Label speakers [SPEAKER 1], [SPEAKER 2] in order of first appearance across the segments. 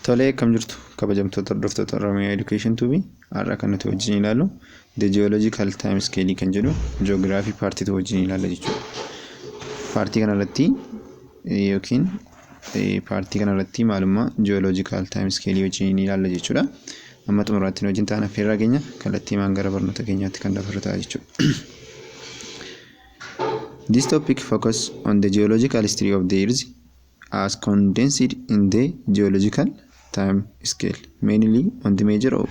[SPEAKER 1] Tolee akkam jirtu kabajamtoota hordoftoota Oromiyaa Education Tube har'a kan nuti wajjin ilaallu The Geological Time Scale kan jedhu Geography Part 2 wajjin ilaalla jechuudha. Paartii kanarratti yookiin paartii kanarratti maalummaa Geological Time Scale wajjin ilaalla jechuudha. Amma xumuraatti wajjin taana feerraa keenya kallattii maan gara barnoota keenyaatti kan dabarru ta'a jechuudha. This topic focus on the geological history of the earth as condensed in the geological time scale, mainly on the major of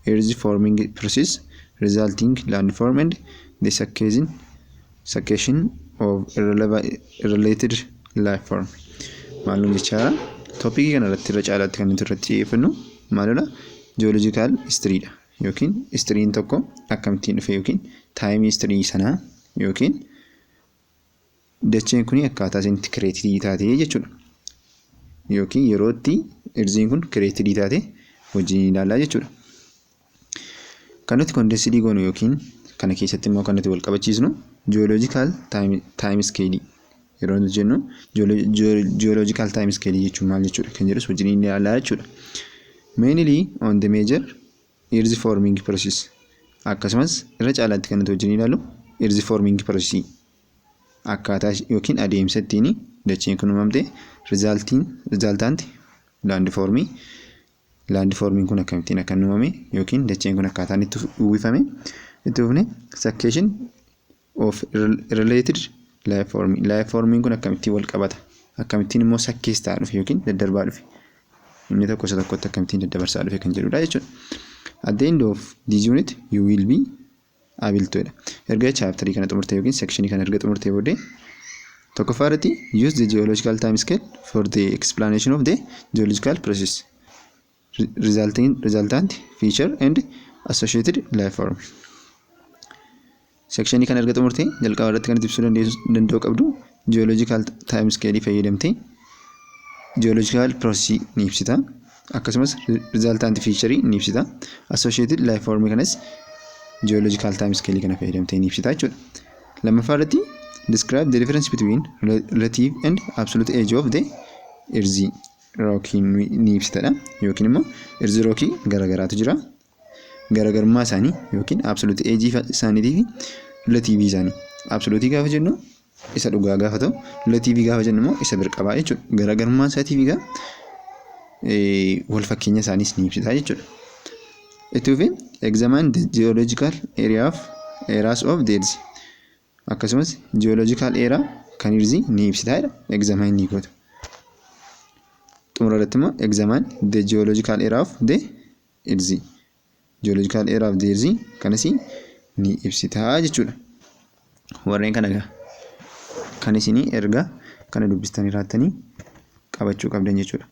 [SPEAKER 1] earth forming process resulting landform and the succession, succession of irreleva- related life form. Maalum jechaa topic kana irratti irra caalaatti kan nuti irratti xiyyeeffannu maalidha? Geological history dha. yookiin istiriin tokko akkamittiin dhufe yookiin taayimii istirii sanaa yookiin dacheen kun akkaataa isin itti kireetirii taatee jechuudha. Yookiin yeroo itti irziin kun kireetirii taatee wajjin ilaalaa jechuudha. Kan nuti kondensidii goonu yookiin kana keessatti immoo kan nuti wal qabachiisnu jiyooloojikaal taayim iskeelii yeroo nuti jennu geological time scale jechuun maal jechuudha kan jedhus wajjin inni ilaalaa jechuudha. Mainly on the major earth forming process akkasumas irra caalaatti kan nuti wajjin ilaalu earth forming process akkaataa yookiin adeemsa ittiin dacheen kun uumamte resulting resultant land forming land forming kun akkamittiin akka uumame yookiin dacheen kun akkaataan itti uwwifame itti fufne succession of related life form life formiin kun akkamittiin wal qabata akkamittiin immoo sakkees ta'a dhufe yookiin daddarbaa dhufe inni tokko isa tokkotti akkamittiin daddabarsaa dhufe kan jedhudha jechuudha. At the end of this unit you will be able to dha. Erga chaaptarii kana xumurte yookiin sekshinii kana erga xumurte booddee tokkoffaa irratti use the geological time scale for the explanation of the geological process. resulting, resultant, feature and associated life form. Sekshinii kana erga xumurtee jalqaba irratti kan itti ibsuu dandeessu- danda'u qabdu geological time scale fayyadamtee geological process ni ibsita. Akkasumas resultant feature ni ibsita. Associated life form kanas geological time scale kana fayyadamtee ni ibsita jechuudha. Lammaffaa irratti describe the difference between relative and absolute age of the earth. rookii ni ibsitadha yookiin immoo irzi rookii garagaraatu jira. Garagarummaa isaanii yookiin absoluut eejii isaaniitii fi relatiivii isaanii. Absoluutii gaafa jennu isa dhugaa gaafa ta'u relatiivii gaafa jennu immoo isa birqabaa jechuudha. Garagarummaa isaatiif egaa wal fakkeenya isaaniis ni ibsita jechuudha. Itti fufee examine the geological area of eras of deeds. Akkasumas ji'ooloojikaal eeraa kan hirzii ni ibsita jedha. Egzaamaan ni goota. Xumura irratti immoo egzaamaan de ji'ooloojikaal eeraa of de hirzii. Ji'ooloojikaal eeraa of de hirzii kanas ni ibsita jechuudha. Warreen kana egaa kan isinii erga kana dubbistanii raattanii qabachuu qabdan jechuudha.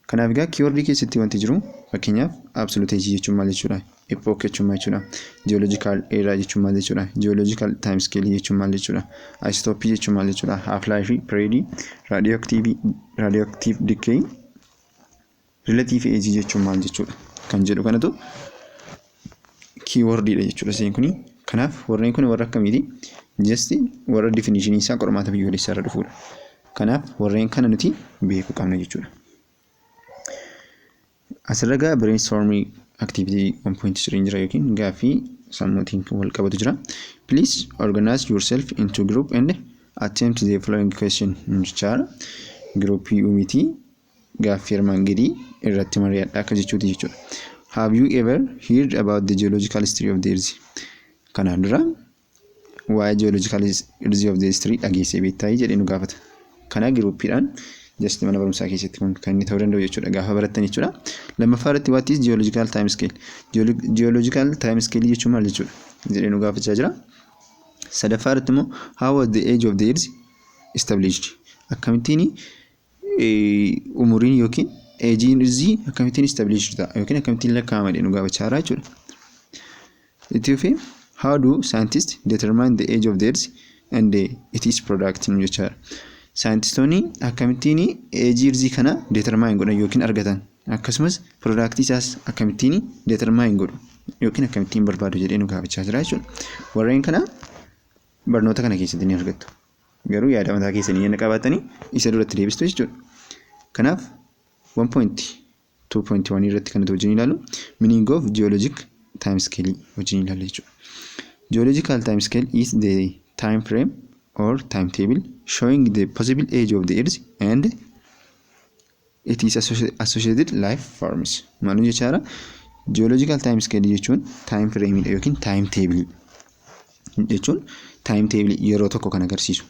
[SPEAKER 1] Kanaaf egaa keywordii keessatti wanti jiru fakkeenyaaf absoluteesii jechuun maal jechuudha? Epoch jechuun maal jechuudha? Geological era jechuun maal jechuudha? Geological time scale jechuun maal jechuudha? Isotope jechuun maal jechuudha? Half life, period, radioactive, radioactive decay, relative age jechuun maal jechuudha? Kan jedhu kanatu kiiwordiidha jechuudha seen kuni. Kanaaf warreen kun warra akkamiiti? Jasti warra definishinii isaa qormaata biyyoolessaa irra dhufuudha. Kanaaf warreen kana nuti beekuu qabna jechuudha. Asirra gaa brainstorming activity 1.3 jira yookiin gaaffii sammuutiin wal qabatu jira. Please organize yourself into group and attempt the following question jechaadha. Giruuppii uumitii gaaffii armaan gadii irratti mari'adhaa akka jechuuti jechuudha. Have you ever heard about the geological history of the earth? Kanaan dura waa'ee geological history of the earth dhageessee beektaa jedhee nu gaafata. Kana giruuppiidhaan just mana barumsaa keessatti kun kan inni ta'uu danda'u jechuudha gaafa barattan jechuudha. Lammaffaa irratti what is geological time scale? Geological time scale jechuun maal jechuudha? jedhee nu gaafachaa jira. Sadaffaa irratti immoo how was the age of the earth established? Akkamittiin umuriin yookiin eejiin irzii akkamittiin establish ta'a yookiin akkamittiin lakkaa'ama jedhu gaafachaa jira jechuudha. Itti fufee how do scientists determine the age of the earth and the, it is product nu jechaa jira. Saayintistoonni akkamittiin eejii irzii kana determine godhan yookiin argatan akkasumas product isaas akkamittiin determine godhu yookiin akkamittiin barbaadu jedhee nu gaafachaa jira jechuudha. Warreen kana barnoota kana keessatti ni argattu. Garuu yaada mataa keessanii yana qabaattanii isa duratti deebistu jechuudha. Kanaaf 1.2.1 irratti kan nuti wajjin ilaalu meaning of geologic time scale wajjin ilaalla jechuudha. Geological time scale is the time frame or timetable showing the possible age of the earth and It is associated life forms. Maaluu jechaadha? Geological time scale jechuun time frame dha yookiin time table jechuun time table yeroo tokko kan agarsiisu.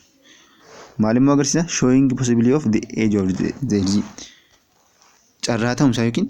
[SPEAKER 1] Maalimmoo agarsiisa showing possibility of the age of the, the carraa ta'umsaa yookiin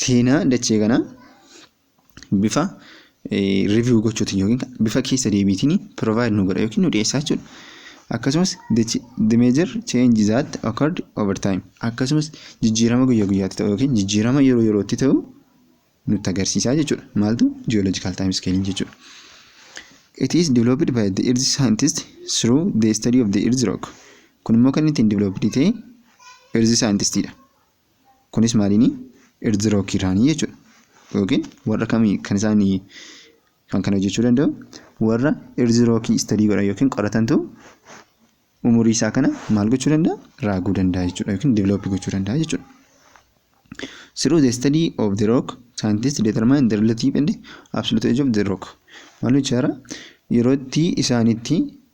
[SPEAKER 1] seenaa dachee kanaa bifa review gochuutiin yookiin bifa keessa deebiitiin provide nu godha yookiin nu dhiyeessaa jechuudha. Akkasumas the major change that occurred over time akkasumas jijjiirama guyyaa guyyaatti ta'u yookiin jijjiirama yeroo yerootti ta'u nutti agarsiisaa jechuudha. Maaltu geological time scale jechuudha. It is developed by the earth scientist through the study of the earth rock. Kun immoo kan ittiin developed ta'e earth scientist dha. Kunis maaliini? Irzirookiraanii jechuudha. Yookiin warra kamii kan isaan kan kana hojjechuu danda'u warra irzirookii istadii godhan yookiin qoratantu umurii isaa kana maal gochuu danda'a? Raaguu danda'a jechuudha yookiin divilooppii gochuu danda'a jechuudha. Through the study of the rock, scientists determine the relative and absolute age of the rock. Maal jechaara? Yeroo itti isaanitti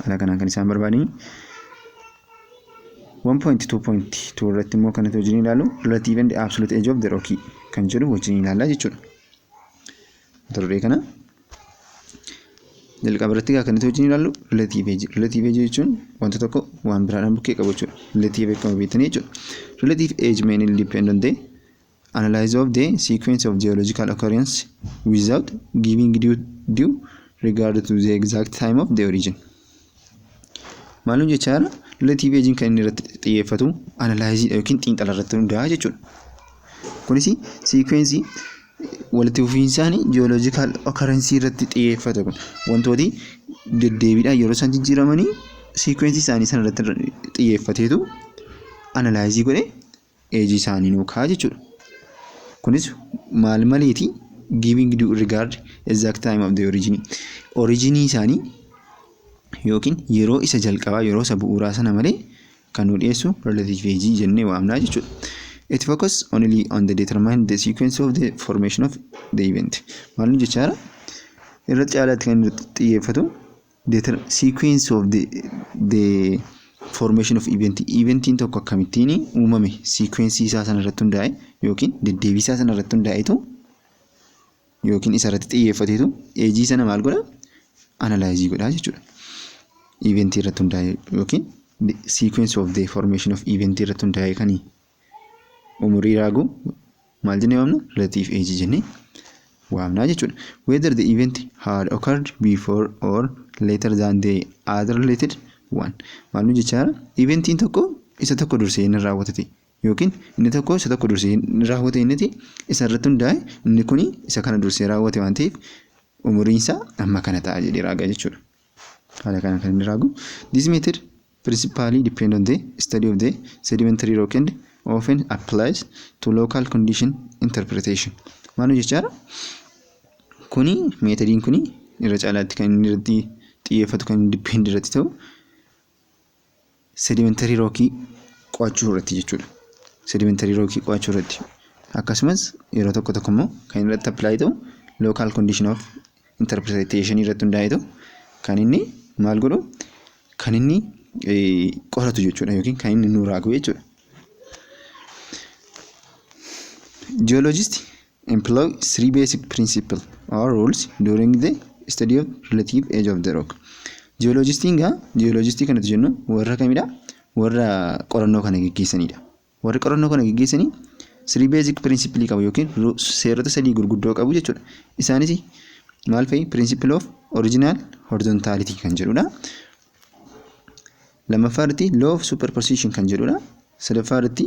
[SPEAKER 1] Haala kanaan kan isaan barbaadani. 1.2.2 irratti immoo kan nuti wajjin ilaallu relative and absolute age of the rocky kan jedhu wajjin ilaalla jechuudha. Mata duree kana jalqaba irratti kan nuti wajjin ilaallu relative age. Relative age jechuun wanta tokko waan biraadhaan bukkee qabu jechuudha. Relative akkuma beektanii jechuudha. Relative age may depend on the Analysis of the sequence of geological occurrence without giving due, due regard to the exact time of the origin. Maalum jechaa jira? Relative aging kan inni irratti xiyyeeffatu analysis yookiin xiinxala irratti hundaa'a jechuudha. Kunis sequence walitti fufiinsaanii geological occurrence irratti xiyyeeffata kun wantooti deddeebiidhaan yeroo isaan jijjiiramanii sequence isaanii sana irratti xiyyeeffateetu analysis godhee Age isaanii nuu kaa'a jechuudha. Kunis maal maleeti giving due regard exact time of the origin originii isaanii yookiin yeroo isa jalqabaa yeroo isa bu'uuraa sana malee kan nu dhiyeessu relative age jennee waamnaa jechuudha. It focus only on the determine the sequence of the formation of the event. Maal nu jechaara? Irratti caalaatti kan xiyyeeffatu The ter- sequence of the, the formation of event eventiin tokko akkamittiin uumame sequence isaa sana irratti hundaa'e yookiin deddeebii isaa sana irratti hundaa'etu yookiin isa irratti xiyyeeffateetu eejii sana maal godha analyze godha jechuudha. Eventii irratti hundaa'e yookiin the sequence of the formation of event irratti hundaa'e kan umurii raaguu maal jennee waamna relative age jennee waamnaa jechuudha. Whether the event had occurred before or later than the other related one. Maal nu jechaa jira? Eventiin tokko isa tokko dursee inni raawwatate yookiin inni tokko isa tokko dursee inni raawwate inniti isa irratti hundaa'e inni kuni isa kana dursee raawwate waan ta'eef umuriin isaa amma kana ta'a jedhee raaga jechuudha. Haala kanaan kan inni raagu. This method principally depend on the study of the sedimentary rock and often applies to local condition interpretation. Maal jechaadha? Kuni meetodiin kuni irra caalaatti kan inni irratti xiyyeeffatu kan depend irratti ta'u sedimentary rockii qo'achuu irratti jechuudha. Sedimentary rockii qo'achuu irratti. Akkasumas yeroo tokko tokko immoo kan irratti apply ta'u local condition of interpretation irratti hundaa'ee ta'u kan inni maal godhu kan inni qoratu jechuudha yookiin kan inni nu raagu jechuudha. Jiyooloojisti Employ three basic principle or rules during the study of relative age of the rock. Jiyoolojistiin gaa jiyoolojistii kanatti jennu warra kamidha? Warra qorannoo kana geggeessanidha. Warri qorannoo kana geggeessanii three basic principle qabu yookiin ru- seerota sadii gurguddoo qabu jechuudha. Isaanis maal fa'i? Principle of original horizontality kan jedhudha. Lammaffaa irratti law of superposition kan jedhudha. Sadaffaa irratti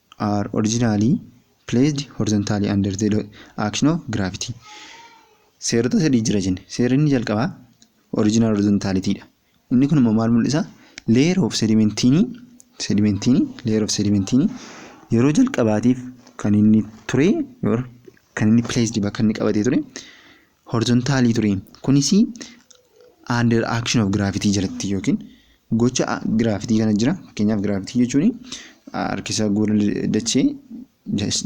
[SPEAKER 1] are originally placed horizontally under the action of gravity. Seerota sadii jira jenne. Seerri inni jalqabaa original horizontalitii dha. Inni kun immoo maal mul'isa? Layer of sedimentiinii sedimentiinii layer of sedimentiinii yeroo jalqabaatiif kan inni ture kan inni placed bakka inni qabatee ture horizontaalii ture. Kunis under action of gravity jalatti yookiin gocha giraafitii kana jira. Fakkeenyaaf giraafitii jechuun harkisa gola dachee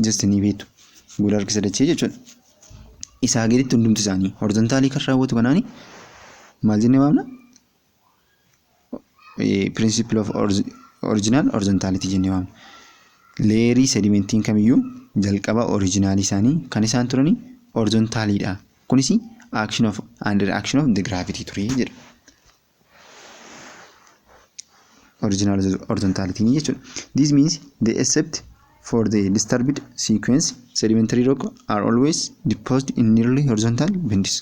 [SPEAKER 1] just ni beektu. Gola harkisa dachee jechuudha. Isaa gaditti hundumti isaanii horizontaalii kan raawwatu kanaani maal jennee waamna? principle of original horizontality jennee waamna. Leerii sedimentiin kamiyyuu jalqaba originaalii isaanii kan isaan turani horizontaaliidha. Kunis action of and reaction of the gravity ture jedha. Original horizontality jechuudha. This means the except for the disturbed sequence sedimentary rock are always deposited in nearly horizontal bends.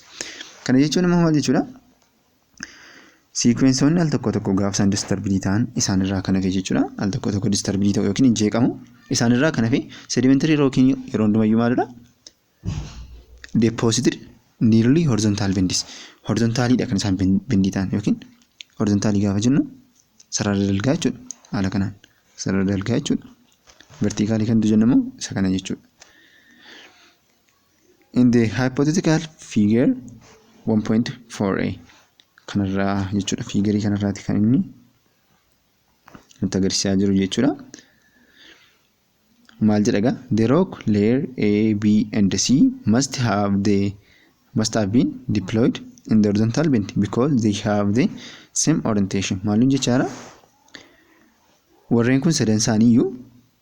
[SPEAKER 1] Kana jechuun immoo maal jechuudha? Siikwensoonni al tokko tokko gaafa isaan disturbidii ta'an isaanirraa kan hafe jechuudha. Al tokko tokko disturbidii ta'u yookiin hin jeeqamu. Isaanirraa kan hafe sedimentary rocking yeroo hundumayyuu maalidha? Deposited nearly horizontal bendis. Horizontaaliidha kan isaan bendii ta'an yookiin horizontaalii gaafa jennu sarara dalgaa jechuudha. Haala kanaan sarara dalgaa jechuudha. Vertikaalii kan jennu immoo isa kana jechuudha. In the hypothetical figure 1.4a kanarraa jechuudha fiigarii kanarraati kan inni nutti agarsiisaa jiru jechuudha. Maal jedha egaa the rock layer A, B and C must have the must have been deployed in the horizontal bend because they have the same orientation. Maalun jechaadha? Warreen kun sadan isaanii iyyuu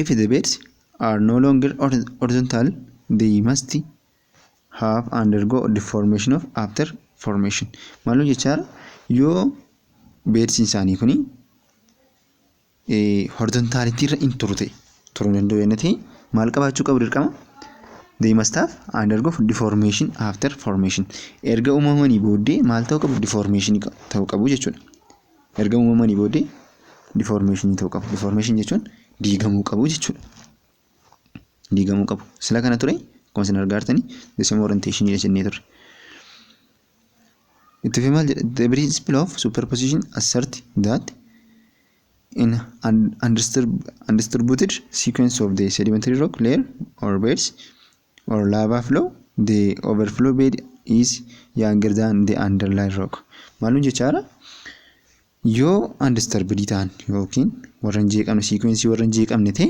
[SPEAKER 1] If the beds are no longer hor- horizontal, they must have undergo deformation of after formation. Maaloo jechaa yoo beedsiin isaanii kuni horizontaalitii irra hin turu ta'e turuu hin danda'u jennee ta'e maal qabaachuu qabu dirqama? They must have undergo deformation after formation. Erga uumamanii booddee maal ta'uu qabu? Deformation ta'uu qabu jechuudha. erga uumamanii booddee difoormeeshinii ta'uu qabu. Difoormeeshinii jechuun diigamuu qabu jechuudha. Diigamuu qabu. Sila kana ture akkuma isin argaa jirtanii deesima orienteeshinii dha jennee turre. Itti fi maal jedha? The principle of superposition assert that in an undisturbed sequence of the sedimentary rock layer or beds or lava flow the overflow bed is younger than the underlying rock maalun jechaadha yoo undisturbed ta'an yookiin warra hin jeeqamne siikweensii warra hin jeeqamne ta'e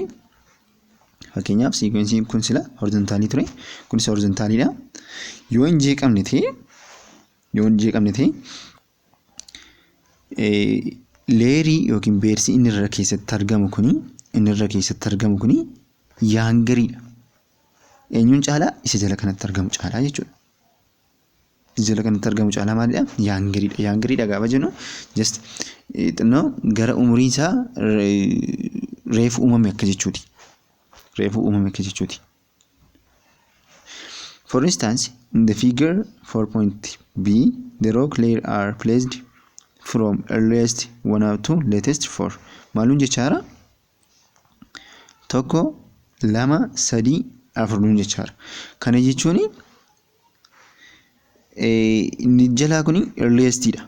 [SPEAKER 1] fakkeenyaaf siikwensiin kun sila horizontaalii ture kunis horizontaaliidha yoo hin jeeqamne ta'e yoo hin jeeqamne ta'e Leerii yookiin beersi inni irra keessatti argamu kuni inni irra keessatti argamu kuni yaangariidha. Eenyuun caalaa isa jala kanatti argamu caalaa jechuudha. Isa jala kanatti argamu caalaa maalidha? Yaangariidha. Yaangariidha gaafa jennu just xinnoo gara umuriin isaa reefu uumame akka jechuuti. Reefu uumame akka jechuuti. For instance, in the figure 4.b, the rock layer are placed from earliest one up to latest four. Maaluun jechaara? Tokko, lama, sadii, afur nuun jechaara. Kana jechuun inni jalaa kun earliest dha.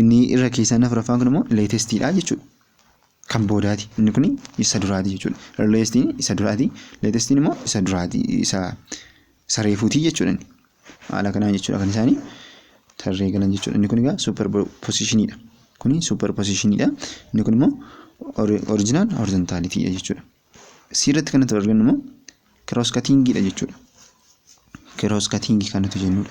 [SPEAKER 1] Inni irra keessaan afuraffaan kun immoo latest dha jechuudha. Kan boodaati. Inni kun isa duraati jechuudha. Earliest isa duraati. Latest immoo isa duraati. Isa isa reefuuti jechuudha. inni. Haala kanaan jechuudha kan isaanii tarree galan jechuudha. Inni kun egaa super position dha. Kuni super position dha. Inni kun immoo or- original horizontality dha jechuudha. C irratti kan nuti arginu immoo kiroos katiingiidha jechuudha. Kiroos katiingii kan nuti jennudha.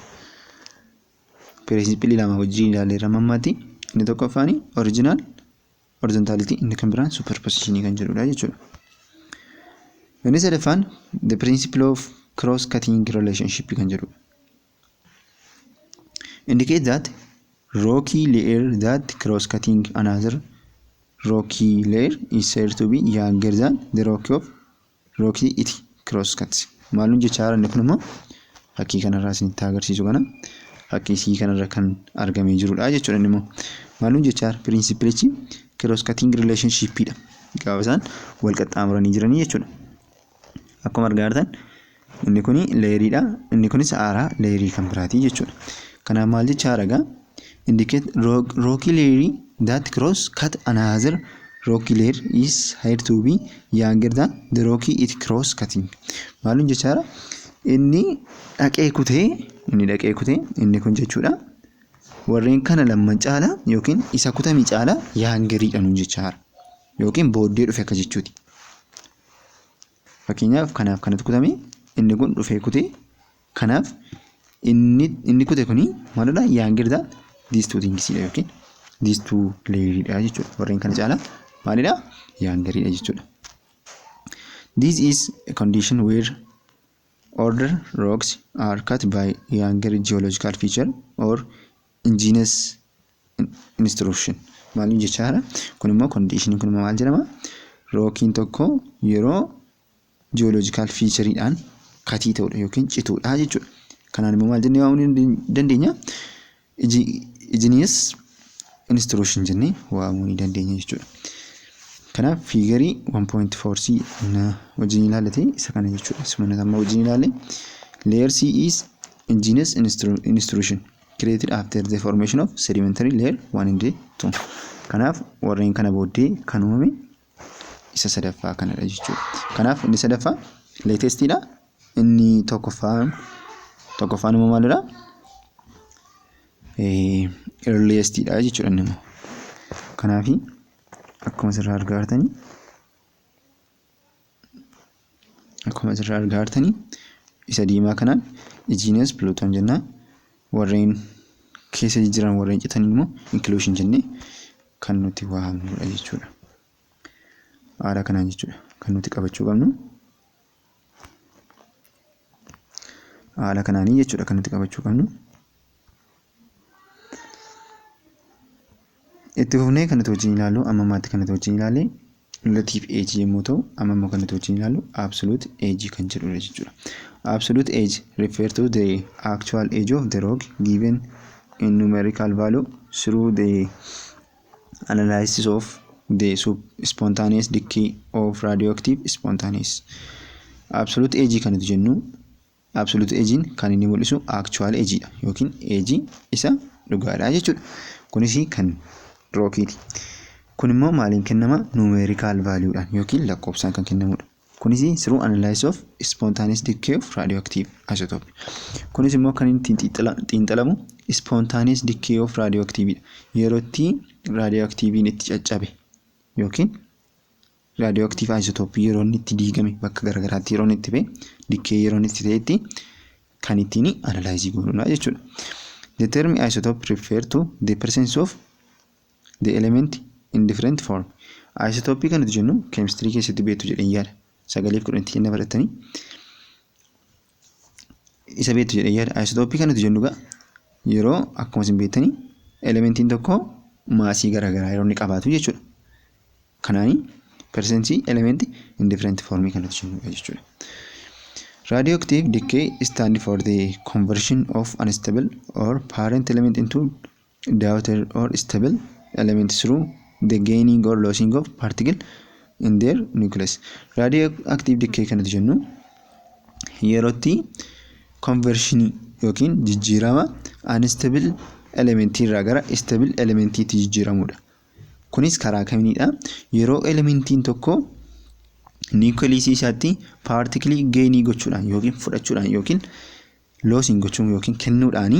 [SPEAKER 1] Piriinsippilii lama wajjin ilaaleerra mammaatti inni tokkoffaan orijinaal horizontaalitii inni kan biraan superpositionii kan jedhudha jechuudha. Inni sadaffaan the principle of cross cutting relationship kan jedhudha. indicate that rocky layer that cross cutting another rocky layer is said to be younger than the rocky of rocky it cross cuts maalun jechaa jiran kun immoo fakkii kanarraa isin itti agarsiisu kana fakkii isii kanarra kan argamee jirudha jechuudha inni immoo maalun jechaa jira pirinsipilichi cross cutting relationship dha gaafa isaan wal qaxxaamuranii jiranii jechuudha. Akkuma argaa jirtan inni kun leeyeriidha. Inni kunis haaraa leeyerii kan biraati jechuudha. Kanaaf maal jechaa aragaa? Indicate rocky layer that cross cut another rocky layer is higher to be younger than the rocky it cross cutting. Maalin jechaa jira? Inni dhaqee kutee inni dhaqee kutee inni kun jechuudha. Warreen kana lamman caala yookiin isa kutame caala yaangeriidha nuun jechaa jira. Yookiin booddee dhufe akka jechuuti. Fakkeenyaaf kanaaf kanatu kutame inni kun dhufee kute kanaaf inni inni kute kuni maalidha yaangilidha diistuu tingisiidha yookiin diistuu leeyiriidha jechuudha warreen kana caalaa maalidha yaangariidha jechuudha. This is a condition where older rocks are cut by younger geological feature or Ingenious instruction maaliif jechaadha kun immoo kondiishiniin kun maal jedhama rookiin tokko yeroo jiyooloojikaal fiichariidhaan katii ta'udha yookiin cituudha jechuudha kanaan immoo maal jennee waamuu dandeenya ingenious instruction jennee waamuu ni dandeenya jechuudha kanaaf fiigarii 1.4c wajjin ilaalate isa kana jechuudha sumana amma wajjin ilaale layer c is ingenious instruction created after the formation of sedimentary layer 1 and 2. Kanaaf warreen kana booddee kan uumame isa sadaffaa kanadha jechuudha. Kanaaf inni sadaffaa latestidha. Inni tokkoffaan tokkoffaan immoo maalidha? Eh, earliestidha jechuudha inni immoo. Kanaafi akkuma asirraa argaa jirtanii akkuma asirraa argaa jirtanii isa diimaa kanaan ijiinas piluutoon jennaa warreen keessa jijjiiran warreen citan immoo inkluushin jennee kan nuti waamnudha jechuudha. Haala kanaan jechuudha kan nuti qabachuu qabnu. Haala kanaanii jechuudha kan nuti qabachuu qabnu. Itti fufnee kan nuti wajjin ilaallu amma ammaatti kan nuti wajjin ilaalle relative age yommuu ta'u amma immoo kan nuti wajjin ilaallu absolute age kan jedhudha jechuudha. Absolute age refer to the actual age of the rock given in numerical value through the analysis of the sub- spontaneous decay of radioactive spontaneous. Absolute age kan nuti jennu Absolute eejiin kan inni mul'isu actual eejiidha yookiin eejii isa dhugaadha jechuudha. Kunis kan rookiiti. Kun immoo maaliin kennama? Numerical value dhaan yookiin lakkoofsaan kan kennamudha. Kunis through analysis of spontaneous decay of radioactive isotope. Kunis immoo kan inni xiinxalamu spontaneous decay of radioactive dha. Yeroo itti radioactive'n itti caccabe yookiin Raadiyooaktiiv Ayizotooppii yeroo inni itti diigame bakka garaagaraatti yeroo inni itti ba'e dikkee yeroo inni itti ta'etti kan ittiin analaayizii goonudha jechuudha. The term isotope refer to the presence of the element in different form. Ayisotooppii kan nuti jennu keemistirii keessatti beektu jedheen yaada. Sagaleef kudhanitti kenna barattanii. isa beektu jedhee yaada. Ayisotoopii kan nuti jennu egaa yeroo akkuma isin beektanii elementiin tokko maasii garaagaraa yeroo inni qabaatu jechuudha. Kanaanii persentii elementi indifferenti foormii kan nuti jennu jechuudha. Radioactive decay stand for the conversion of unstable or parent element into Daughter or stable element through the gaining or losing of particle in their nucleus. Radioactive decay kan nuti jennu yerootti conversion yookiin jijjiirama unstable element irraa gara stable element itti jijjiiramudha. Kunis karaa kamiinidha? Yeroo elementiin tokko nucleus isaatti particle gainii gochuudhaan yookiin fudhachuudhaan yookiin losing gochuun yookiin kennuudhaani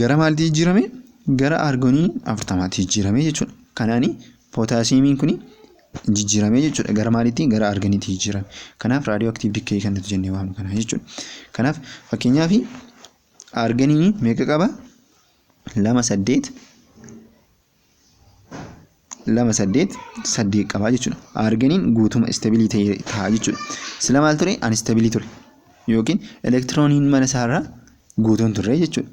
[SPEAKER 1] gara maalitti jijjiirame gara argonii afurtamaatti jijjiirame jechuudha. Kanaani pootaasiyeemiin kun jijjiirame jechuudha gara maalitti gara argoniitti jijjiirame. Kanaaf raadiyoo aktiiv dikkee kan nuti jennee waamnu kana jechuudha. Kanaaf fakkeenyaaf argoniin meeqa qaba? lama saddeet lama saddeet saddeet qabaa jechuudha. Arginiin guutuma istabilii ta'e ta'a jechuudha. Sila maal ture? Anistabilii ture. Yookiin elektirooniin mana isaarraa guutuun turre jechuudha.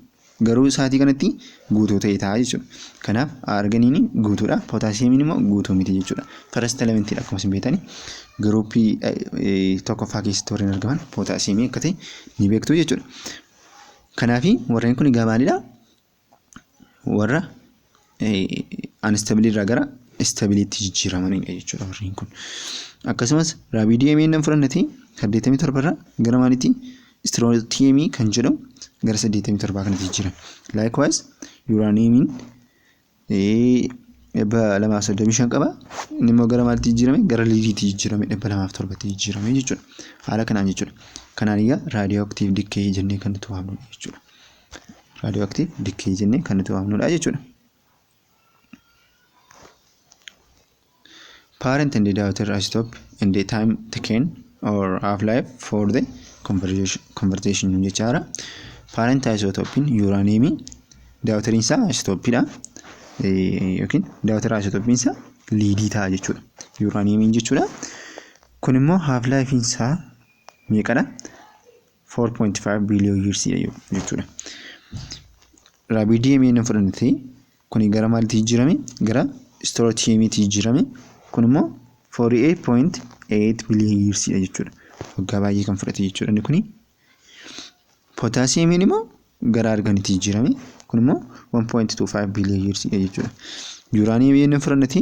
[SPEAKER 1] Garuu sa'aatii kanatti guutuu ta'e ta'a jechuudha. Kanaaf arginiin guutuudha. Pootaasiyeemiin immoo guutuu miti jechuudha. First elementii akkuma isin beektani giruuppii tokkoffaa keessatti warreen argaman pootaasiyeemii akka ta'e ni beektu jechuudha. Kanaafi warreen kun egaa maalidha? warra anistabiliirraa gara istabiliitti jijjiiramanidha jechuudha warreen kun. Akkasumas raabiidiyeemii inni fudhannati 87 irraa gara maalitti istirootiyeemii kan jedhamu gara 87 kanatti jijjiirama. Laayikwaayis yuuraaniyeemiin dhibba lamaaf soddomii shan qaba. Inni immoo gara maalitti jijjiirame? Gara liidiitti jijjiirame dhibba lamaaf torbatti jijjiirame jechuudha. Haala kanaan jechuudha. Kanaan egaa raadiyoo aktiiv dikkee jennee kan nuti waamnu jechuudha. raadiyoo aktiiv dikkee jennee kan nuti waamnudha jechuudha. Parent and daughter isotope and the time taken or half life for the conversion jechaadha. Parent isotopin yuuraaniyeemii daawutariin isaa isotopidha yookiin daawutara isotopin isaa liidii ta'a jechuudha. Yuuraaniyeemiin jechuudha. Kun immoo half life isaa meeqadha? 4.5 billion years jedhu jechuudha. Raabidii himee inni fudhannetti kun gara maaliitti jijjiirame gara istoorootiyeemiitti jijjiirame kun immoo 48.8 billion years dha jechuudha. Waggaa baay'ee kan fudhate jechuudha inni kuni. Pootaasiyeemiin immoo gara arganitti jijjiirame kun immoo 1.25 billion years dha jechuudha. Yuuraaniyeemii inni fudhannetti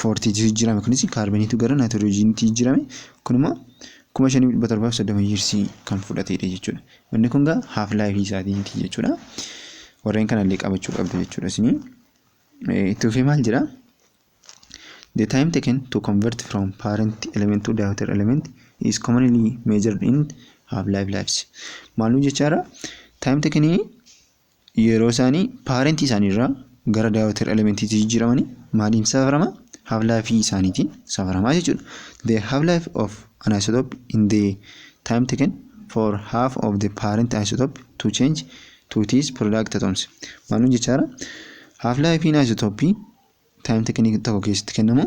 [SPEAKER 1] foortiitti jijjiirame kunis kaarboniitu gara naayitiroojiinitti jijjiirame kun immoo kuma shanii dhibba torbaaf soddoma yiirsii kan fudhateedha jechuudha. Inni kun gaa haaf laayifii isaatiiti jechuudha. Warreen kanallee qabachuu qabdu jechuudha isinii. Itti fufee maal jedha? The time taken to convert from parent element to daughter element is commonly measured in half life lives. Maaluu jechaadha? Time taken Yeroo isaanii paarentii isaanii irraa gara daawwatar elementiitti jijjiiramanii maaliin safarama? Half life isaaniitiin safarama jechuudha. The half life of an isotope in the time taken for half of the parent isotope to change to its product atoms. Maalun jechaara? Half life isotopii time taken tokko keessatti kennamu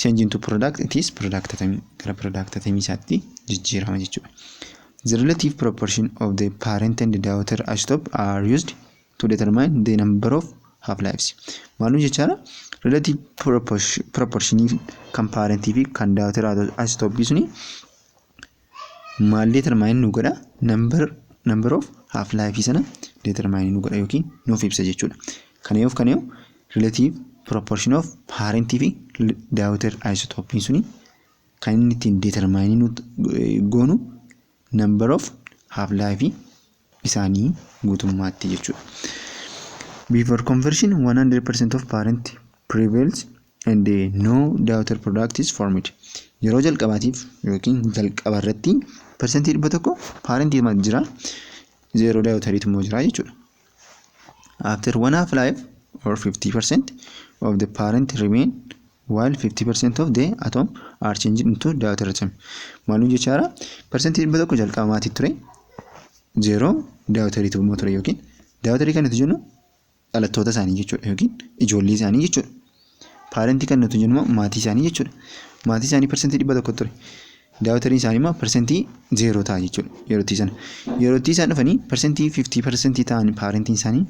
[SPEAKER 1] Change into product it is product atamii gara product atamii isaatti jijjiirama jechuudha. The relative proportion of the parent and daughter isotope are used to determine the number of half lives. Maalum jechaadha relative proportion kan parent fi kan daughter isotope suni maal determine nu godha number number of half life sana determine nu godha yookiin nuuf ibsa jechuudha. Kana yoo kana yoo relative proportion of parent fi daughter isotopiin suni kan inni ittiin determine nu goonu number of half life isaanii guutummaatti jechuudha. Before conversion 100% of parent prevails and no daughter product is formed. Yeroo jalqabaatiif yookiin jalqaba irratti persentii dhibba tokko parent ilmaat jira zeeroo daawutariitu immoo jira jechuudha. After one half life or 50% of the parent remain while 50% of the atom are changed into deuterium maaluu jechaara parsantii dhibba tokko jalqaba maatii ture zeeroo daawutarii ta'uu ture yookiin daawutarii kan nuti jennu dhalattoota isaanii jechuudha yookiin ijoollee isaanii jechuudha paarentii kan nuti jennu maatii isaanii jechuudha maatii isaanii parsantii dhibba tokko ture daawutarii isaanii immoo parsantii zeeroo ta'a jechuudha yerootii sana yerootii isaan dhufanii parsantii 50 parsantii ta'an paarentiin isaanii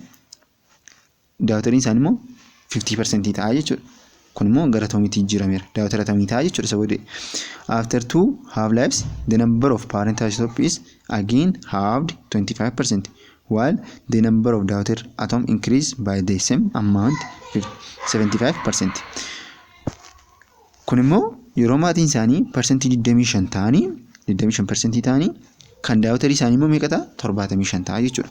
[SPEAKER 1] Daawatariin isaanii immoo 50% ta'a jechuudha. Kun immoo gara atoomiitti jijjiirameera. Daawatara atomii ta'a jechuudha isa booddee. After two half lives, the number of parent isotope is again halved 25%, while the number of daughter atom increase by the same amount 75%. Kun immoo yeroo maatiin isaanii parsantii 25 ta'anii 25% ta'anii kan daawatarii isaanii immoo meeqa ta'a? 75 ta'a jechuudha.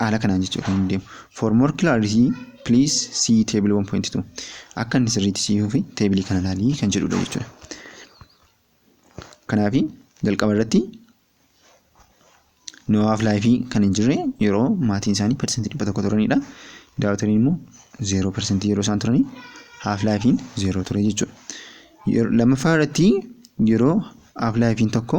[SPEAKER 1] haala kanaan jechuudha kan deemu. For more clarity, please see table 1.2. Akka inni sirriitti siifuu fi teebilii kana ilaalii kan jedhudha jechuudha. Kanaaf jalqaba irratti no half life kan hin jirre yeroo maatiin isaanii persentii dhibba tokko turanidha. Daawwatanii immoo zeeroo persentii yeroo isaan turanii half life zeeroo ture jechuudha. Lammaffaa irratti yeroo half life tokko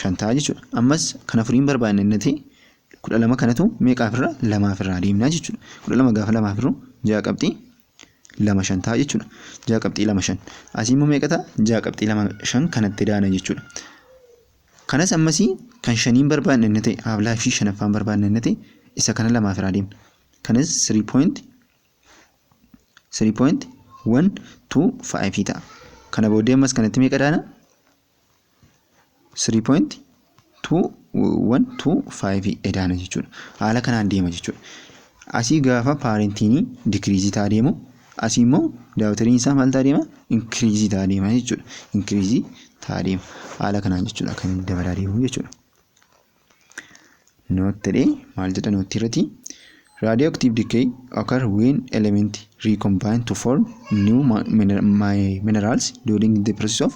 [SPEAKER 1] shan ta'a jechuudha. Ammas kan afurii hin barbaadne innati kudha lama kanatu meeqaaf irra lamaaf irraa deemnaa jechuudha. Kudha lama gaafa lamaaf irru ja'a qabxii lama shan ta'a jechuudha. Ja'a qabxii lama shan. Asii immoo meeqa ta'a? Ja'a qabxii lama shan kanatti daana jechuudha. Kanas ammasii kan shanii hin barbaadne inni ta'e haaf laayifii shanaffaa hin barbaadne inni ta'e isa kana lamaaf irraa deemna. Kanas sirii pooyinti sirii pooyinti wan tuu faayifii ta'a. Kana booddee ammas kanatti meeqa daana? 3 point 2 1 2 5 edaana jechuudha haala kanaan deema jechuudha asii gaafa paarentiinii dikiriizii taa deemu asii immoo daawutariin isaa maal taa deema inkiriizii taa deema jechuudha inkiriizii taa deema haala kanaan jechuudha kan dabalaa deemu jechuudha. Note jedhee maal jedha note irratti radioactive decay occur when element recombine to form new ma- miner- mi- minerals during the process of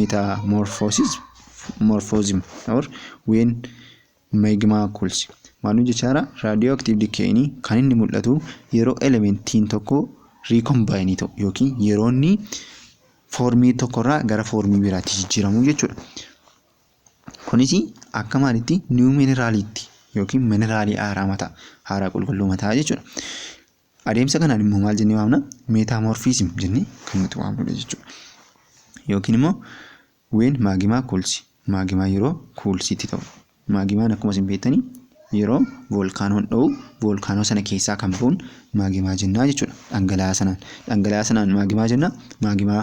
[SPEAKER 1] metamorphosis morphosim or when magma cools maal jechaara radioactive decay ni kan inni mul'atu yeroo elementiin tokko recombine ta'u yookiin yeroo inni foormii tokkorraa gara foormii biraatti jijjiiramu jechuudha. Kunis akka maalitti niiw mineraaliitti yookiin mineraalii haaraa mataa haaraa qulqulluu mataa jechuudha. Adeemsa kanaan immoo maal jennee waamna? Meetaamorfiizim jennee kan nuti waamnudha jechuudha. Yookiin immoo ween maagimaa kuulsi maagimaa yeroo kuulsiitti ta'u maagimaan akkuma isin beektanii yeroo voolkaanoon dho'u voolkaanoo sana keessaa kan ba'uun maagimaa jennaa jechuudha. Dhangala'aa sanaan dhangala'aa sanaan maagimaa jennaa maagimaa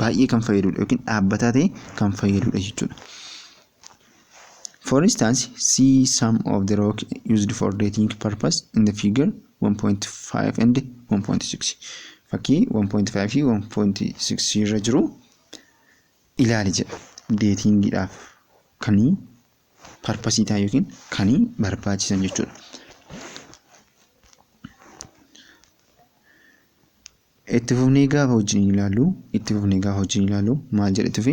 [SPEAKER 1] baay'ee kan fayyadudha yookiin dhaabbataa ta'e kan fayyadudha jechuudha. For instance, see some of the rock used for dating purpose in the figure 1.5 and 1.6. Fakkii 1.5 fi 1.6 irra jiru ilaali jedha. Deetingiidhaaf kan parpasii ta'an yookiin kan barbaachisan jechuudha. Itti fufnee gaafa wajjin ilaallu, itti fufnee gaafa wajjin ilaallu maal jedhe tufe?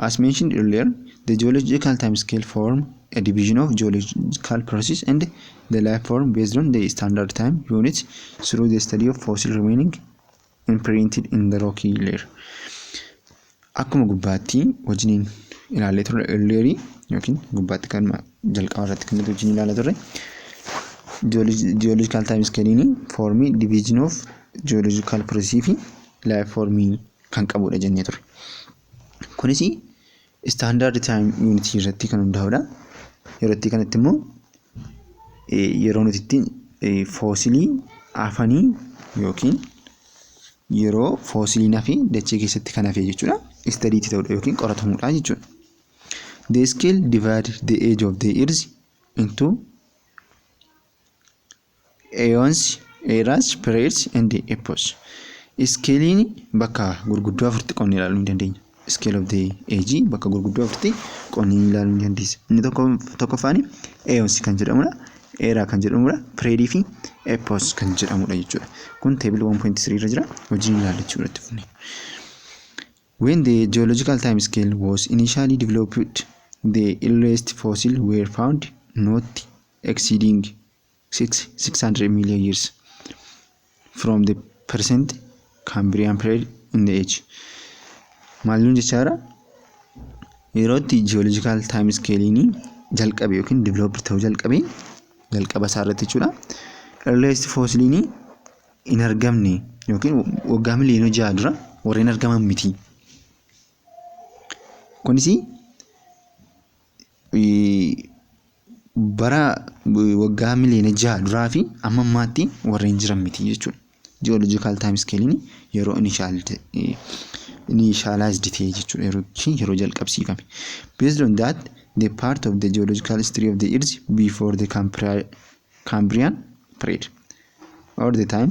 [SPEAKER 1] As mentioned earlier, the geological time scale form a division of geological process and the life form based on the standard time unit through the study of fossil remaining imprinted in the rocky layer. Akkuma gubbaatti wajjiniin ilaallee turre earlier yookiin gubbaatti kan jalqaba irratti kan nuti wajjin ilaalaa turre geological time scale foormii division of geological process fi life foormii kan qabudha jennee turre. Kunis standard time unit irratti kan hundaa'udha. Yerootti kanatti immoo yeroo nuti ittiin foosilii afanii yookiin yeroo foosiliin hafe dachee keessatti kan hafe jechuudha. Istadii itti ta'udha yookiin qoratamudha jechuudha. They scale divide the age of the earth into eons, eras, periods and epochs. Iskeeliin bakka gurguddoo afuritti qonnee ilaaluu ni dandeenya. scale of the age bakka gurguddoo afurtti qonni ni ilaaluu ni dandeessa. Inni tokko tokkoffaan eons kan jedhamudha. Era kan jedhamudha. Period fi epos kan jedhamudha jechuudha. Kun table 1.3 irra jira. Hojii ni ilaalla jechuudha itti fufnee. When the geological time scale was initially developed, the earliest fossil were found not exceeding six six hundred million years from the present Cambrian period in the age maal nuun jechaara yeroo itti geological time scale'ini jalqabe yookiin develop ta'uu jalqabe jalqaba isaa irratti jechuudha earliest fossiliini hin argamne yookiin waggaa miliyoona ja'a dura warreen argaman miti. Kunis bara waggaa miliyoona jaha duraa fi amma ammaatti warreen jiran miti jechuudha. Ji'oolojikaal taayim iskeeliin yeroo inishaalaayiz ta'e jechuudha yeroo isheen yeroo jalqabsiifame. Based on that the part of the geological history of the earth before the Cambrian period or the time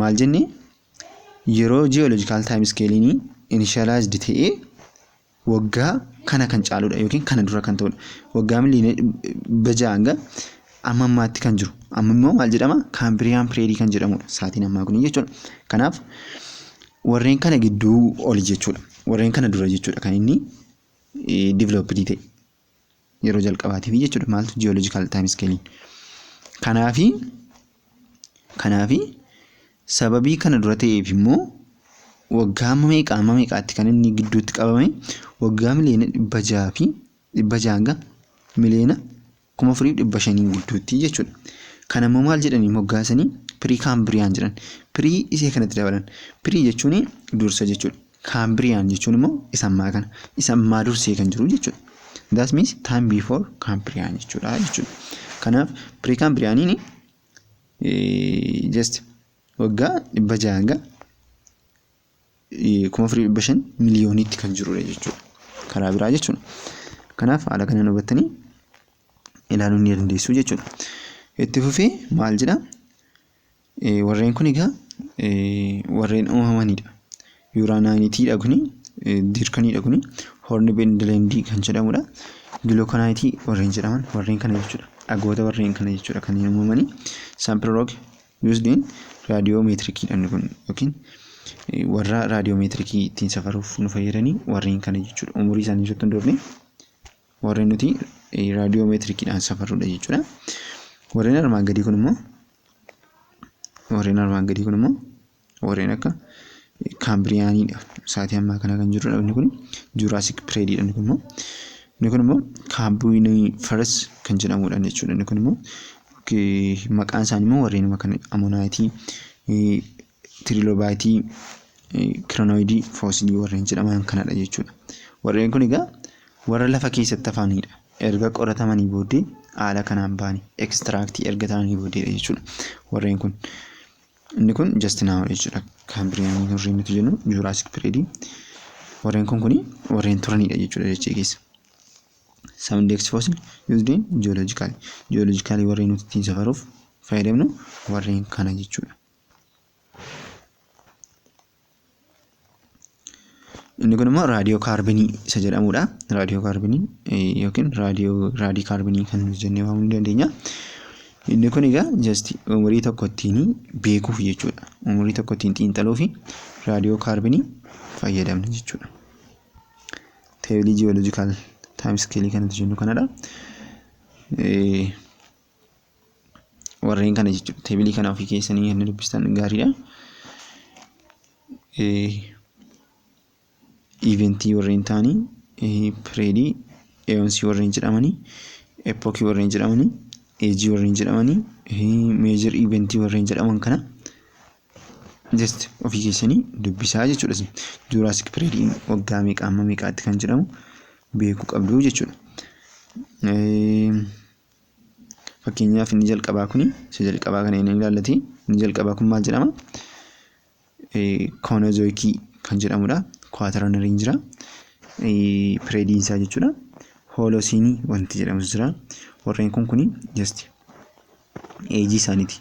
[SPEAKER 1] Maal jenne yeroo geological time scale ni initialized ta'ee waggaa kana kan caaludha yookiin kana dura kan ta'udha. Waggaa miliyoona dhibba ja'a hanga amma ammaatti kan jiru. Amma immoo maal jedhama? Cambrian period kan jedhamudha. Saatiin ammaa kun jechuudha. Kanaaf warreen kana gidduu oli jechuudha. Warreen kana dura jechuudha kan inni developed ta'e. yeroo jalqabaatiif jechuudha maaltu jiyoolojikaal taayim iskeeliin. Kanaafi kanaafi sababii kana dura ta'eef immoo waggaa amma meeqa amma meeqaatti kan inni gidduutti qabame waggaa miliyoona dhibba jaha fi dhibba jaha hanga miliyoona kuma afurii fi dhibba shanii gidduutti jechuudha. Kana immoo maal jedhanii moggaasanii pirii kaambiriyaan jedhan pirii isee kanatti dabalan pirii jechuun dursa jechuudha. Cambrian jechuun immoo isa ammaa kana. Isa ammaa dursee kan jiru jechuudha. That means time before Cambrian jechuudha jechuudha. Kanaaf pre-Cambrianiin just waggaa dhibba jaha hanga kuma afurii dhibba shan miliyooniitti kan jirudha jechuudha. Karaa biraa jechuudha. Kanaaf haala kanaan hubattanii ilaaluu ni dandeessu jechuudha. Itti fufee maal jedhaa? Warreen kun egaa warreen uumamanidha. Yuuraanaayitiidha kuni diirkaniidha kuni horni bendileendii kan jedhamudha. Gilookanaayiti warreen jedhaman warreen kana jechuudha. Dhagoota warreen kana jechuudha kan uumamanii. Saampiroog yuusdiin raadiyoomeetirikiidhaan kun yookiin warra raadiyoomeetirikii ittiin safaruuf nu fayyadanii warreen kana jechuudha. Umurii isaanii ibsatti hin dhoofne. warra nuti raadiyoomeetirikiidhaan safarrudha jechuudha. Warreen armaan gadii kun immoo warreen armaan gadii kun immoo warreen akka kaambiriyaaniidha. Sa'aatii ammaa kana kan jirudha inni kun juuraasik pireediidha inni kun immoo inni kun immoo kaambiinii faras kan jedhamudha jechuudha. Inni kun immoo maqaan isaanii immoo warreen kana amonaayitii tiriloobaayitii kiranoidii foosilii warreen jedhaman kanadha jechuudha. Warreen kun egaa warra lafa keessatti hafanidha. Erga qoratamanii booddee haala kanaan ba'ani ekstiraaktii erga ta'anii booddeedha jechuudha. Warreen kun inni kun jastinaawa jechuudha. Kaambiriyaanii warreen nuti jennu juuraasik pireedii warreen kun kuni warreen turanidha jechuudha dachee keessa. Some index fossil used in geological geological warreen nuti ittiin safaruuf fayyadamnu warreen kana jechuudha. Inni kun immoo raadiyoo kaarbinii isa jedhamudha. Raadiyoo kaarbinii yookiin raadiyoo raadii kaarbinii kan jennee waamuu ni dandeenya. Inni kun egaa just umurii tokko ittiin beekuuf jechuudha. Umurii tokko ittiin xiinxaluuf raadiyoo kaarbinii fayyadamna jechuudha. Teebilii jiyoolojikaal taayim iskeelii kan nuti jennu kanadha. warreen kana jechuudha teebilii kana ofii keessanii kan dubbistan gaariidha. Iventii warreen ta'anii pireedii eeyoonsii warreen jedhamanii epookii warreen jedhamanii eejii warreen jedhamanii meejir iventii warreen jedhaman kana just ofii keessanii dubbisaa jechuudha. Juuraasik pireediin waggaa meeqa amma meeqaatti kan jedhamu beekuu qabdu jechuudha. Fakkeenyaaf inni jalqabaa kuni isa jalqabaa kana inni ilaallate inni jalqabaa kun maal jedhama? Koonozoikii kan jedhamudha. Kuwaataranarii jira. Pireediin isaa jechuudha. Hoolosiinii wanti jedhamus jira. Warreen kun kuni just eejii isaaniiti.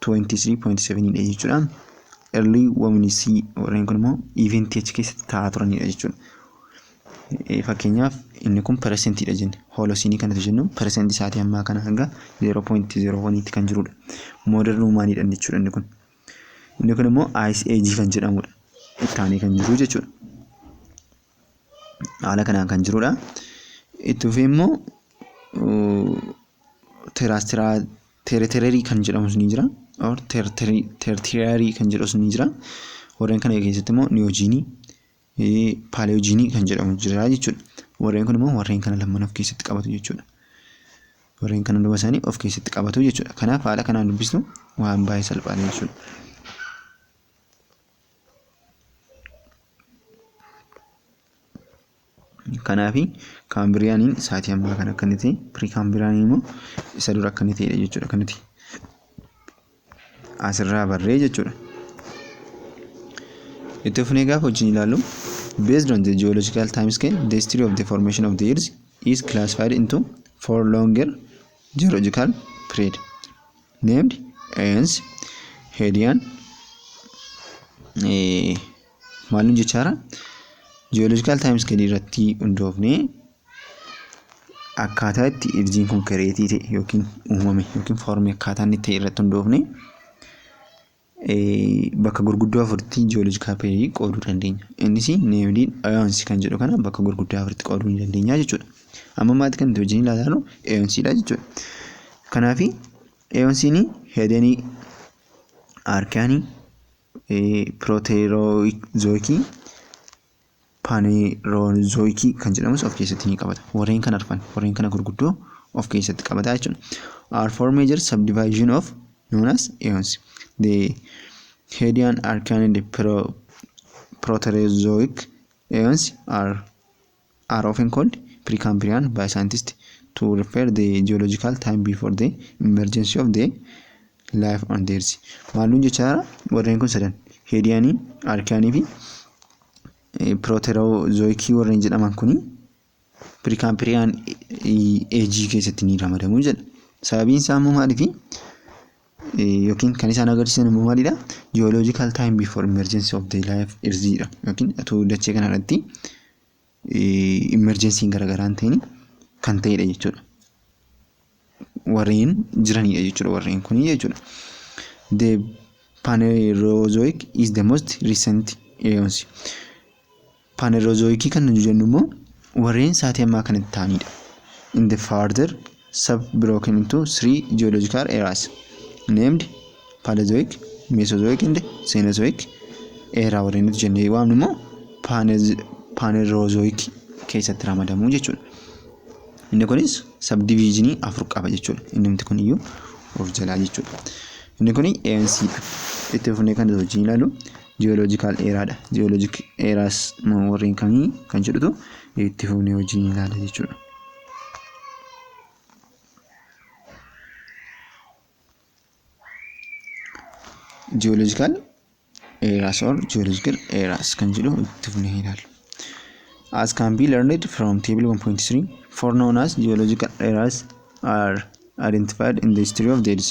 [SPEAKER 1] 23.7 dha jechuudha. Early women's warreen kun immoo event achi keessatti taa'aa turanidha jechuudha. Fakkeenyaaf inni kun peresentiidha jenne. Hoolosiinii kanatu jennu peresentii isaatii ammaa kana hanga 0.01tti kan jirudha. Modern womanidha jechuudha inni kun. Inni kun immoo ice age kan jedhamudha. Ittaanee kan jiru jechuudha. Haala kanaan kan jirudha. Itti fufee immoo terrestrial Teretererii kan jedhamus ni jira. Or tertiyarii kan jedhamus ni jira. Warreen kana keessatti immoo niyojiinii, paaleyojiinii kan jedhamu jira jechuudha. Warreen kun immoo warreen kana lamaan of keessatti qabatu jechuudha. Warreen kana duuba isaanii of keessatti qabatu jechuudha. Kanaaf haala kanaan dubbisnu waan baay'ee salphaadha jechuudha. Kanaafi kaambiriyaaniin saatii ammaa kana akka inni ta'e pirii kaambiriyaaniin immoo isa dura akka inni ta'edha jechuudha akka nuti asirraa barree jechuudha. Itti fufnee gaafa wajjin ilaallu based on the geological time scale the history of the formation of the earth is classified into four longer geological period named Aeons, Hedian, eh, Maal nu jechaara? Ji'ooloojikaal taayims gadii irratti hundoofnee akkaataa itti irjiin kun kireetii ta'e yookiin uumame yookiin foormii akkaataa inni ta'e irratti hundoofnee bakka gurguddoo afuritti ji'ooloojikaal pireedii qooduu dandeenya. Innis neemdii eyoonsii kan jedhu kana bakka gurguddoo afuritti qooduu ni dandeenya jechuudha. Amma maati kan nuti wajjin ilaallu eyoonsiidha jechuudha. Kanaaf eyoonsiin heedanii aarkaanii pirooteeroozoikii, paaneeroozoikii kan jedhamus of keessatti ni qabata. Warreen kan arfan warreen kana gurguddoo of keessatti qabata jechuudha. Are four major subdivision of known as eons. The Hadean, Archean and Pro- Proterozoic eons are are often called Precambrian by scientists to refer the geological time before the emergence of the life on the earth. Maalluun jechaa warreen kun sadan heediyaanii, arkiyaanii fi pirooteroozoikii warreen jedhaman kuni piriikaampiriyaan eejii keessatti ni ramadamu jedha. Sababiin isaa immoo maaliifi? yookiin kan isaan agarsiisan immoo maalidha? Geological time before emergency of the life irziidha. Yookiin otoo dachee kana irratti emergensiin garaagaraa hin ta'in kan ta'edha jechuudha. Warreen jiranidha jechuudha warreen kun jechuudha. The Phanerozoic is the most recent eons. Paaneerozooyikii kan nuti jennu immoo warreen saatii ammaa kanatti ta'anidha. In the further sub broken into three geological eras named Paleozoic, Mesozoic and Cenozoic era warreen nuti jennee waamnu immoo paaneerozooyikii keessatti ramadamu jechuudha. Inni kunis sabdiviizhinii afur qaba jechuudha. Inni nuti kuniyyuu of jalaa jechuudha. Inni kun ANC dha. Itti fufnee kan nuti wajjin ilaalu Geological era dha. Geologic eras moo warreen kamii kan jedhutu itti fufnee wajjin ilaala jechuudha. Geological eras or geological eras kan jedhu itti fufnee ilaalla. As can be learned from table 1.3, four known as geological eras are identified in the history of the Earth.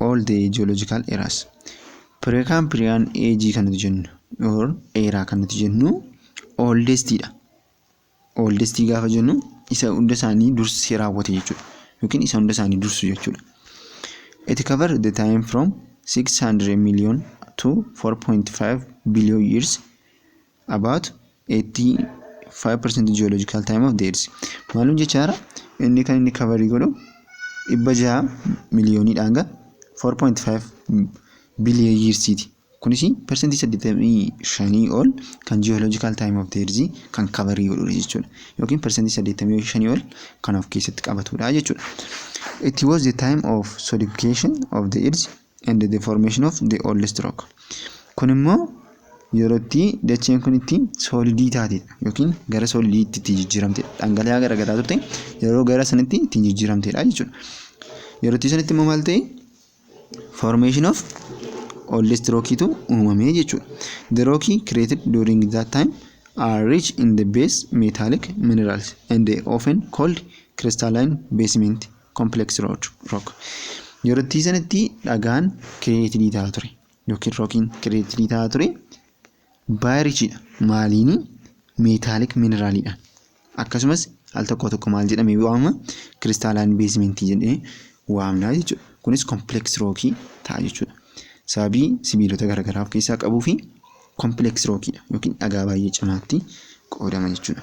[SPEAKER 1] all the geological eras Precambrian age kan nuti jennu or era kan nuti jennu oldest dha oldest gaafa jennu isa hunda isaanii dursee raawwate jechuudha yookiin isa hunda isaanii dursu jechuudha it cover the time from 600 million to 4.5 billion years about 85% geological time of the earth maalum jechaara inni kan inni kavarii godhu dhibba jaha miliyoonii dhaanga 4.5 biliyoon yiirsiiti kunis persentii 85 ol kan geological time of the earth kan kavarii godhudha jechuudha yookiin persentii 85 ol kan of keessatti qabatudha jechuudha it was the time of solidification of the earth and the formation of the old stroke. Kun immoo yeroo itti dacheen kun itti soolidii taate yookiin gara soolidiitti itti jijjiiramte dhangala'aa garagaraa turte yeroo gara sanitti itti jijjiiramtedha jechuudha. Yeroo itti sanitti immoo maal ta'e? Formation of old stroke tu uumame jechuudha. The rock created during that time are rich in the base metallic minerals and often called crystalline basement. complex rock rock yerottii sanitti dhagaan kireetidii ta'a ture yookiin rookiin kireetidii ta'a ture baayirichidha maaliini meetaalik mineraalidhaan akkasumas al tokko tokko maal jedhamee waamama kiristaalaan beesimentii jedhee waamnaa jechuudha kunis complex rookii ta'a jechuudha sababii sibiilota garaagaraa of keessaa qabuu fi complex rookiidha yookiin dhagaa baay'ee cimaatti qoodama jechuudha.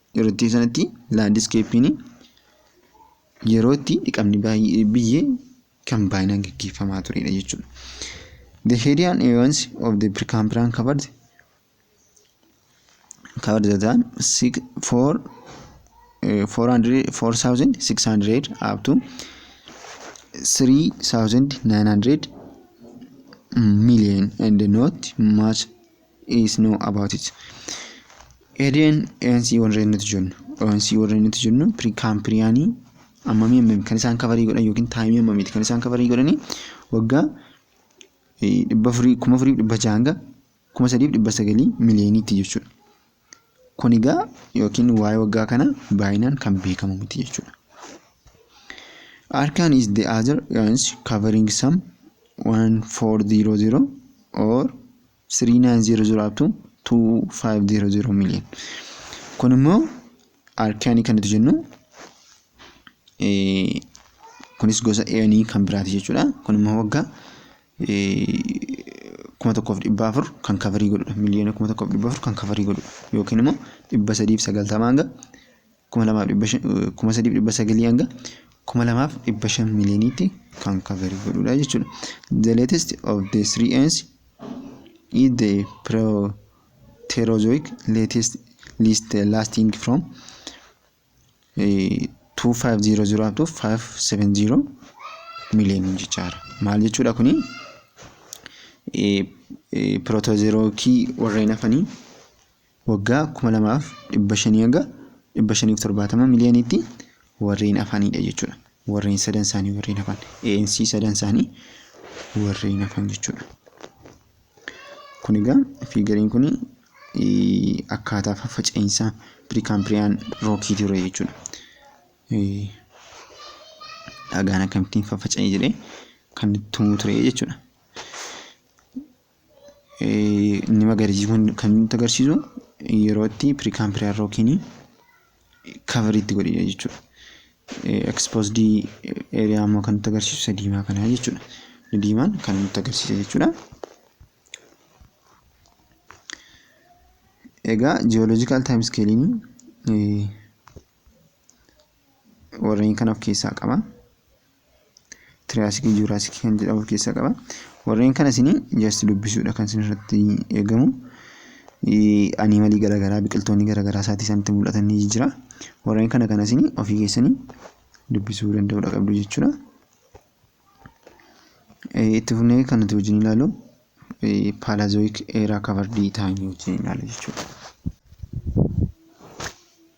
[SPEAKER 1] yeroo itti sanatti laandiskeeppiin yeroo itti dhiqamni baay'ee biyyee kan baay'inaan gaggeeffamaa turedha jechuudha. The Hedian Evans of the Precambrian covered covered the time six, four, uh, 400, 4,600 up to 3,900 million and not much is know about it. Edeen ANC warreen nuti jennu ANC warreen nuti jennu kaampiriyaanii ammamii ammamii kan isaan kafarii godhan yookiin taayimii ammamiiti kan isaan kafarii godhanii waggaa dhibba afurii kuma afurii dhibba jaha hanga kuma sadiif dhibba sagalii miliyooniitti jechuudha. Kun egaa yookiin waa'ee waggaa kana baay'inaan kan beekamu miti jechuudha. Arkaan is the other ANC covering some 1400 or 3900 up to 2500 million kun immoo arkaanii kan nuti jennu eh, kunis gosa eanii kan biraati jechuudha kun immoo waggaa eh, kuma tokkoof dhibba afur kan kafarii godhudha miliyoona kuma tokkoof dhibba afur kan kafarii godhudha yookiin immoo dhibba sadiif sagaltama hanga kuma lamaaf dhibba shan kuma sadiif dhibba sagalii hanga kuma lamaaf dhibba shan miliyooniitti kan kaverii godhudha jechuudha. The latest of the three ends is the Proterozoic latest list lasting from eh, 2500 up to 570 miliyooniin jechaadha. Maal jechuudha kuni? Eh, eh, Proterozoikii warreen hafanii waggaa 2500-570 miliyooniitti warreen hafanidha jechuudha. Warreen sadan isaanii warreen hafan. ANC sadan isaanii warreen hafan jechuudha. Kun egaa fiigariin kun akkaataa faffaca'iinsa piriikaampiiriyaan rookii ture jechuudha. Dhagaan akkamittiin faffaca'e jedhee kan tumuu ture jechuudha. Inni magariisi kun kan nutti agarsiisu yeroo itti piriikaampireer yookiin kaverii itti godhedha jechuudha. Ekspoosdii eeriyaa immoo kan nutti agarsiisu isa diimaa kana jechuudha. Inni diimaan kan nutti agarsiisa jechuudha. Egaa jiyooloojikaal taayim iskeeliin warreen kana of keessaa qaba. Tiriyaasikii juuraasikii kan jedhamu of keessaa qaba. Warreen kana isin just dubbisuudha kan isin irratti eegamu. Animalii garaagaraa biqiltoonni garaagaraa isaatii isaanitti mul'atan ni jira. Warreen kana kana isin ofii keessanii dubbisuu danda'uudha qabdu jechuudha. Itti fufnee kan nuti wajjin ilaalu paalaazooyik eeraa kavardii taa'anii wajjin ilaala jechuudha.